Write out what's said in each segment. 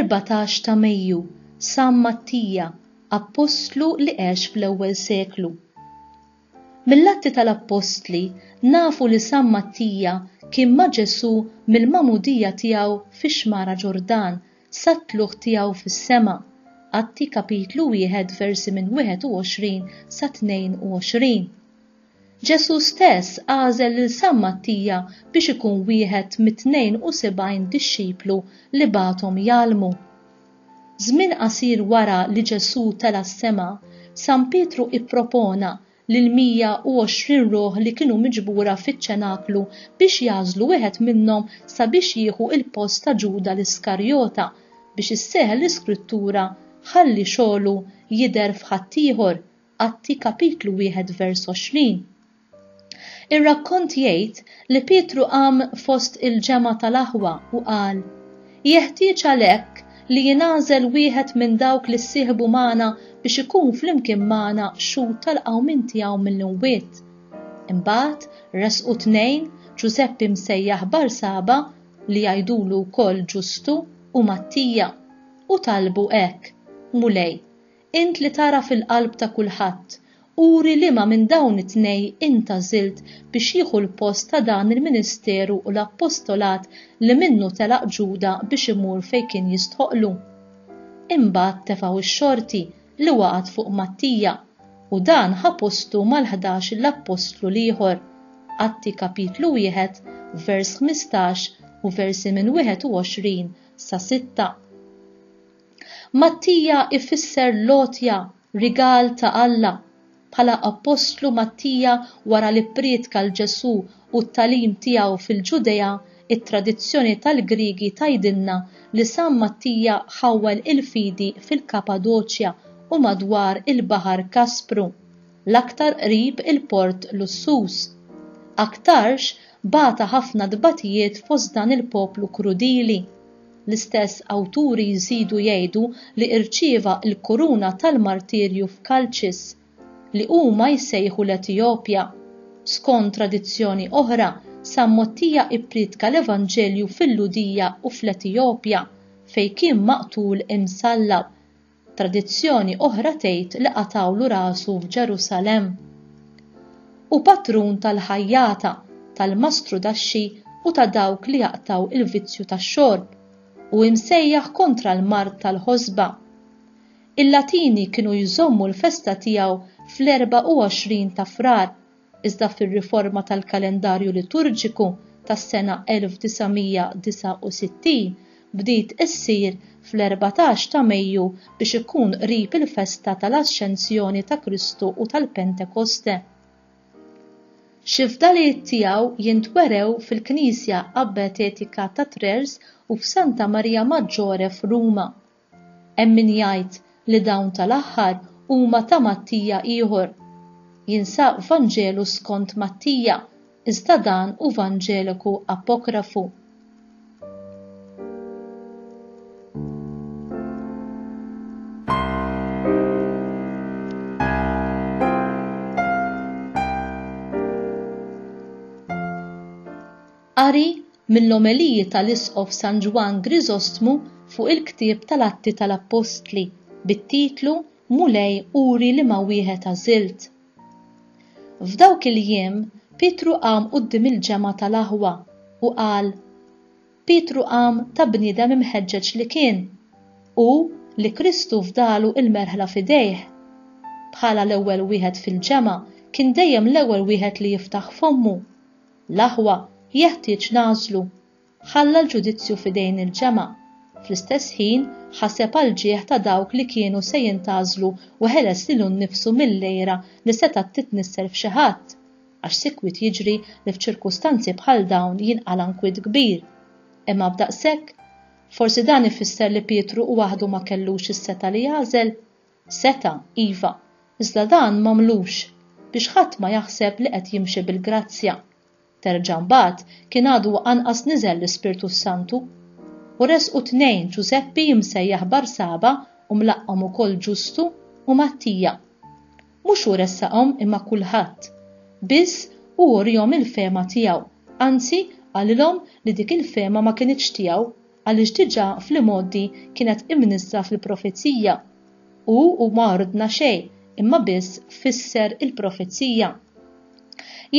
14 ta' Mejju, San Mattija, appostlu li għex fl-ewwel seklu. Mill-Atti tal-Appostli nafu li San Mattija kien ma' Ġesù mill-magħmudija tiegħu fix-xmara Ġordan sat-tlugħ tiegħu fis-sema, Atti kapitlu wieħed versi minn 21 sa 22. Ġesù stess għażel lil San Mattija biex ikun wieħed mit-tnejn u sebgħin dixxiplu li bagħathom jgħallmu. Żmien qasir wara li Ġesù tela' s-sema, San Pietru ippropona lill-120 ruħ li kienu miġbura fiċ-ċenaklu biex jagħżlu wieħed minnhom sabiex jieħu l-post ta' Ġuda l-Iskarjota, biex isseħħ l-iskrittura, Ħalli xogħlu jidher f'ħaddieħor, Atti kapitlu 21 vers. Ir-rakkont jgħid li Pietru qam fost il-ġemgħa tal-aħwa u qal, Jeħtieġ għalhekk li jingħażel wieħed minn dawk li ssieħbu magħna biex ikun flimkien magħna xhud tal-qawmien tiegħu mill-imwiet. Imbagħad resqu tnejn, Ġużeppi msejjaħ Barsaba, li jgħidulu wkoll Ġustu, u Mattija, u talbu hekk, Mulej, Int li tagħraf il-qalb ta' kulħadd, uri liema minn dawn it-tnej int għażilt biex jieħu l-post ta' dan il-ministeru u l-appostolat li minnu telaq Ġuda biex imur fejn kien jistħoqqlu. Imbagħad tefgħu x-xorti li waqgħet fuq Mattija, u dan ħa postu mal-ħdax l-appostlu l-ieħor, Atti kapitlu wieħed vers ħmistax u versi minn wieħed u għoxrin sa sitta. Mattija jfisser l-għotja, rigal ta' Alla. Bħala appostlu Mattija wara li pprietka 'l Ġesù u t-tagħlim tiegħu fil-Ġudea, it-tradizzjoni tal-Griegi tgħidilna li San Mattija ħawwel il-fidi fil-Kapadoċja u madwar il-Baħar Kaspru, l-aktar qrib il-port lussuż. Aktarx, bata ħafna tbatijiet fost dan il-poplu krudili. L-istess awturi jżidu jgħidu li irċieva l-kuruna tal-martirju f'Kalċis, li huma jsejħu l-Etijopja. Skond tradizzjoni oħra, San Mottija ipprietka l-Evanġelju fil-Lhudija u fl-Etijopja, fejn kien maqtul imsallab. Tradizzjoni oħra tgħid li qatgħulu rasu f'Ġerusalemm. Hu patrun tal-ħajjata, tal-mastrudaxxi u ta' dawk li jaqtgħu il-vizzju tax-xorb, u imsejjaħ kontra l-mard tal-ħosba. Il-Latini kienu jżommu l-festa tiegħu fl-24 ta' Frar, iżda fir-riforma tal-kalendarju liturġiku tas-sena 1969 bdiet issir fl-erbatax ta' Mejju biex ikun qrib il-festa tal-Ascensjoni ta' Kristu u tal-Pentekoste. Xi fdalijiet tiegħu jintwerew fil-Knisja Abbatetika ta' Trers u f'Santa Marija Maggiore f'Ruma. Hemm min jgħid li dawn tal-aħħar huma ta' Mattija ieħor. Jinsab f'Vanġelu skont Mattija, iżda dan hu Vanġeliku apokrafu. Qari mill-omeliji tal-Isqof San Ġwann Griżostmu fuq il-ktieb tal-Atti tal-Appostli bit-titlu Mulej uri liema wieħed għażilt. F'dawk il-jiem Pietru qam quddiem il-ġemgħa tal-aħwa u qal, Pietru qam ta' bniedem imħeġġeġ li kien, u li Kristu fdalu il-merħla f'idejh. Bħala l-ewwel wieħed fil-ġemgħa kien dejjem l-ewwel wieħed li jiftaħ fommu. L-aħwa jeħtieġ nagħżlu. Ħalla l-ġudizzju f'idejn il-ġemgħa. Fl-istess ħin, ħaseb għall-ġieħ ta' dawk li kienu se jintgħażlu u ħeles lilu nnifsu mill-għira li setgħet titnissel f'xi ħadd, għax sikwit jiġri li f'ċirkustanzi bħal dawn jinqala' nkwiet kbir. Imma b'daqshekk? Forsi dan ifisser li Pietru waħdu ma kellux is-setgħa li jagħżel? Seta', iva, iżda dan m'għamlux, biex ħadd ma jaħseb li qed jimxi bil-grazzja. Terġa' mbagħad kien għadu anqas niżel l-Ispirtu s-Santu. U resqu tnejn, Ġużeppi imsejjaħ Barsaba u mlaqqhom ukoll Ġustu u Mattija. Mhux hu ressaqhom imma kulħadd. Biss, hu urihom il-fehma tiegħu, anzi, qalilhom li dik il-fehma ma kinitx tiegħu, għaliex diġà fl-imgħoddi kienet imnissla fil-profezija, u hu ma ordna xejn, imma biss fisser il-profezija.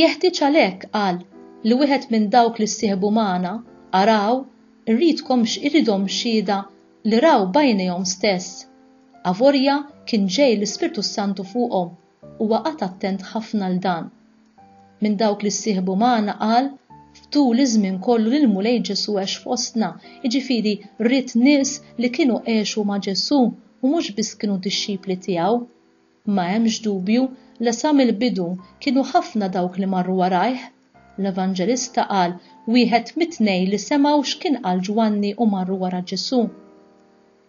Jeħtieġ għalhekk, qal, li wieħed minn dawk li ssieħbu magħna, araw, irridkom iridhom xhieda li raw b'għajnejhom stess. Avolja kien ġej l-Ispirtu s-Santu fuqhom, Huwa qagħad attent ħafna għal dan. Minn dawk li ssieħbu magħna qal, F'tul iż-żmien kollu li l-Mulej Ġesù għex fostna, jiġifieri ried nies li kienu għexu ma' Ġesù u mhux biss kienu dixxipli tiegħu. Ma hemmx dubju li sa mill-bidu kienu ħafna dawk li marru warajh. L-Evanġelista qal, Wieħed mit-tnejn li semgħu x'kien qal Ġwanni u marru wara Ġesù.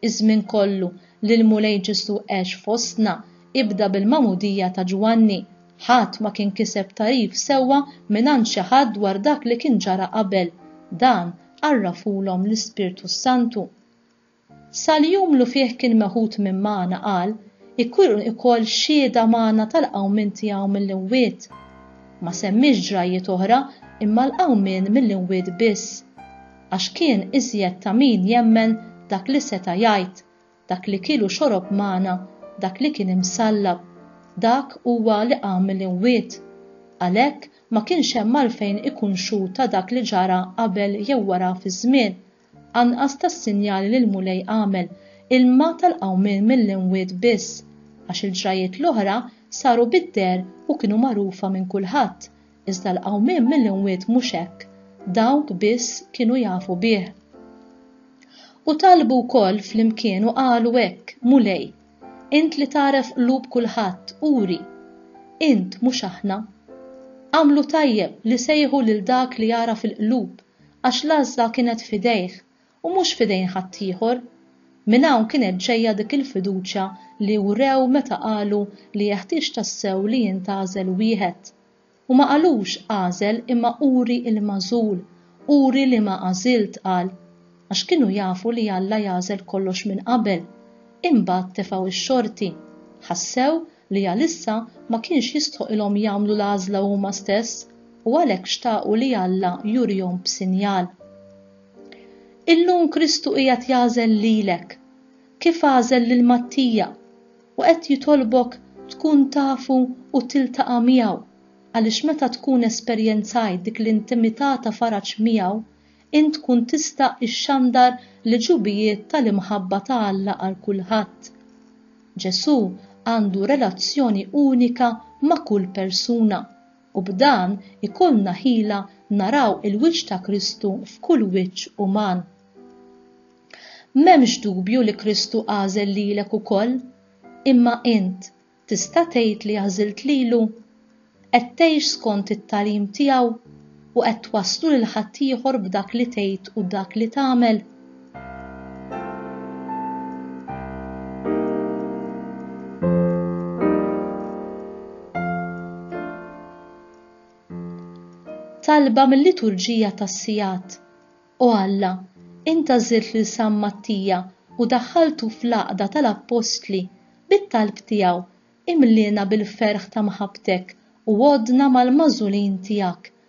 Iż-żmien kollu li l-Mulej Ġesù għex fostna ibda bil-magħmudija ta' Ġwanni. Ħadd ma kien kiseb tagħrif sewwa mingħand xi ħadd dwar dak li kien ġara qabel. Dan għarrafulhom l-Ispirtu s-Santu. Sal-jum lu fih kien meħud minn magħna qal, Ikun ukoll xhieda magħna tal-qawmien tiegħu mill-imwiet. Ma semmiex ġrajjiet oħra imma l-qawmien mill-imwiet biss. għax kien iżjed ta' min jemmen dak li seta' jgħid, dak li kiel u xorob magħna, dak li kien imsallab, dak huwa li qam mill-imwiet. Għalhekk ma kienx hemm għalfejn ikun xhud ta' dak li ġara qabel jew wara fiż-żmien, anqas tas-sinjali li l-Mulej għamel, ilma tal-qawmien mill-imwiet biss, għax il-ġrajjiet l-oħra saru bid-deher u kienu magħrufa minn kulħadd, Iżda l-qawmien mill-imwiet mhux hekk, dawk biss kienu jafu bih. U talbu wkoll flimkien u qalu hekk, Mulej, int li tagħref qlub kulħadd, uri, int, mhux aħna. Għamlu tajjeb li sejħu lil dak li jagħraf il-qlub, għax l-għażla kienet f'idejh, u mhux f'idejn ħaddieħor. Minn hawn kienet ġejja dik il-fiduċja li wrew meta qalu li jeħtieġ tassew li jintgħażel wieħed. U ma qalux għażel imma uri l-magħżul, uri liema għażilt, qal. Għax kienu jafu li Alla jagħżel kollox minn qabel. Imbagħad tefgħu x-xorti. Ħassew li għalissa ma kienx jistħoqilhom jagħmlu l-għażla huma stess u għalhekk xtaqu li Alla jurihom b'sinjal. Illum Kristu qiegħed jagħżel lilek, kif għażel lil Mattija, u qed jitolbok tkun tafu u tiltaqa' miegħu, għaliex meta tkun esperjenzajt dik l-intimità ta' faraġ miegħu, int tkun tista' ixxandar l-għġubijiet tal-imħabba ta' Alla għal kulħadd. Ġesù għandu relazzjoni unika ma' kull persuna. u b'dan ikollna ħila naraw il-wiċċ ta' Kristu f'kull wiċċ uman. M'hemmx dubju li Kristu għażel lilek ukoll, imma int tista' tgħid li għażilt lilu? Qed tgħix skont it-tagħlim tiegħu u qed twasslu lil ħaddieħor b'dak li tgħid u dak li tagħmel? Talba mill-liturġija tas-sigħat. O Alla, inta żirt lil San Mattija u daħħaltu fl-għaqda tal-appostli bit-talb tiegħu imliena bil-ferħ ta' mħabbtek u għoddna mal-magħżulin tiegħek